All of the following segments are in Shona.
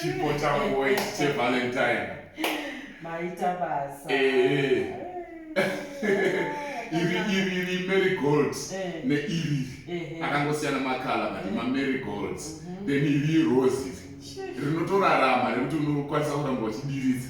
chipo changu chevalentine maita basa eh. iri iri iri mary gold eh. neiri eh, akangosiyana makala but mamary gold mhm. then iri rose iri rinotorarama nekuti unokwanisa kuramba uchidiridza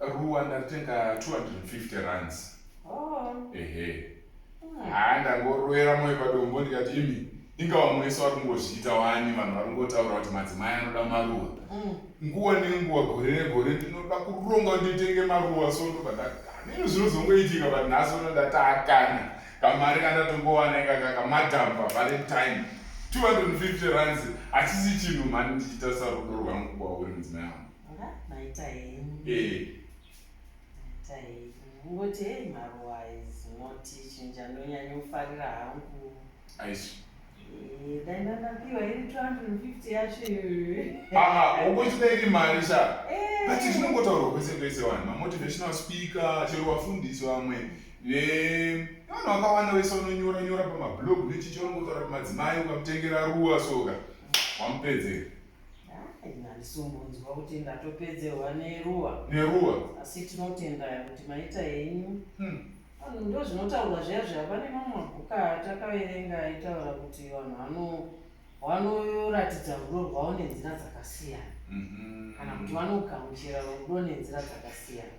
ruwa ndaritenga 250 runs oh. ehe hmm. haa ndangoroera moyo padombo ndikati imi inga vamwe vese vari kungozviita wani vanhu vari kungotaura kuti madzimai anoda maruwa hmm. nguva nenguva gore negore ndinoda kuronga kuti nditenge maruwa so ndobva ndakanino zvinozongoitika but nhasi uno ndatakana kamari kandatongowana inga kakamadhampa valentine 250 runs hachisi chinhu mani ndichiita sarudo rwangu kwauri mudzimai wangu maita henyu eh. maita henyu ngoti hei maruwa is not chinja ndonyanyofarira hangu aisi eh, dai ndanapiwa iri 250 yacho iyoyoaa ukuchida iri mari sa eh. but zvinongotaurwa kwese kwese vanhu mamotivational speaker chero vafundisi vamwe vanhu vakawanda vese vanonyora nyora pamablog nechichongotaura kuti madzimai ukamutengera ruwa soka wamupedzera Ndisimbonzwa kuti ndatopedzerwa neruwa neruwa asi tinotenda kuti maita henyu hmm. vanhu ndo zvinotaurwa zviya zviya pane mamwe mabhuka atakaverenga aitaura kuti vanhu vanoratidza rudo rwavo nenzira dzakasiyana mhm. kana kuti vanogamuchira rudo nenzira dzakasiyana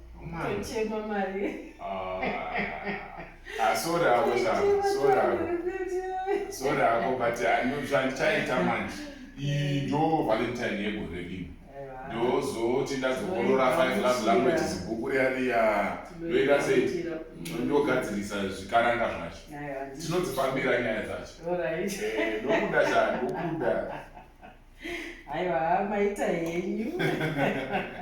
Kuchema mari. Ah, ah sorry hako shangu, sorry hako. Sorry hako but zvandichaita manje. Iyi ndo Valentine yegore rino. Ndozoti ndazokorora five love languages bhuku riya riya. Ndoita sei? Ndogadzirisa zvikaranga zvacho. Tinodzifambira nyaya dzacho. Eh, ndokuda shangu, ndokuda. Aiwa, maita henyu.